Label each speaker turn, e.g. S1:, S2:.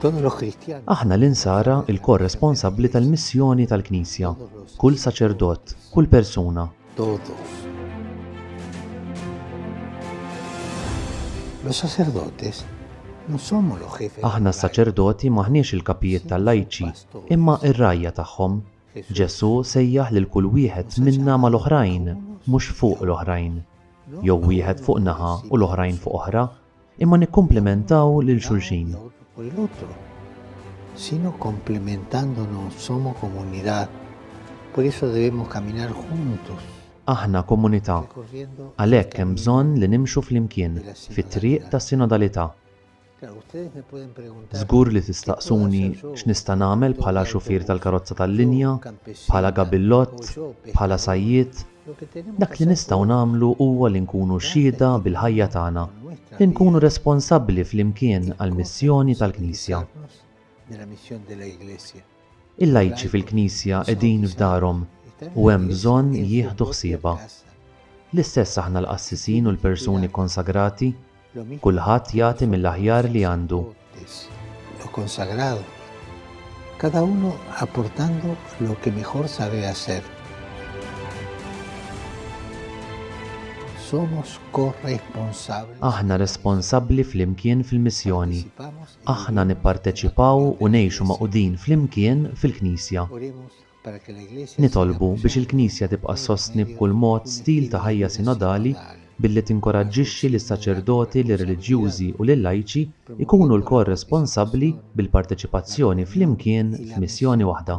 S1: Aħna l-insara
S2: il-korresponsabbli tal-missjoni tal-Knisja, kull saċerdot, kull persuna.
S1: Aħna s-saċerdoti
S2: maħniex il-kapijiet tal-lajċi, imma ir-rajja tagħhom. Ġesù sejjaħ lil kull wieħed minna mal-oħrajn, mhux fuq l-oħrajn. jew wieħed fuq naħa u l-oħrajn fuq oħra, imma nikkumplimentaw lil xulxin.
S1: Sino complementándonos somos comunidad. Por eso debemos caminar juntos. Aħna
S2: komunità. Għalhekk
S1: hemm bżonn
S2: li nimxu flimkien fit-triq tas-sinodalità.
S1: Żgur li tistaqsuni
S2: x'nista' nagħmel bħala xufier tal-karozza tal-linja, bħala gabillott, bħala sajjied. Dak li
S1: nistgħu nagħmlu
S2: huwa li nkunu xhieda bil-ħajja tagħna, li nkunu responsabbli flimkien għall-missjoni tal-Knisja.
S1: Il-lajċi
S2: fil-Knisja qegħdin f'darhom u hemm bżonn jieħdu ħsiebha. L-istess aħna l-qassisin u l-persuni kkonsagrati, kulħadd jagħti mill-aħjar li għandu.
S1: Aħna
S2: responsabbli flimkien fil-missjoni Aħna
S1: nipparteċipaw
S2: u ngħixu magħqudin flimkien fil-Knisja.
S1: Nitolbu biex il-Knisja
S2: tibqa' ssostni b'kull mod stil ta' ħajja sinodali billi tinkoraġġixxi lis-saċerdoti, lir-reliġjużi u lil-lajċi jkunu lkoll responsabbli bil-parteċipazzjoni flimkien f'missjoni waħda.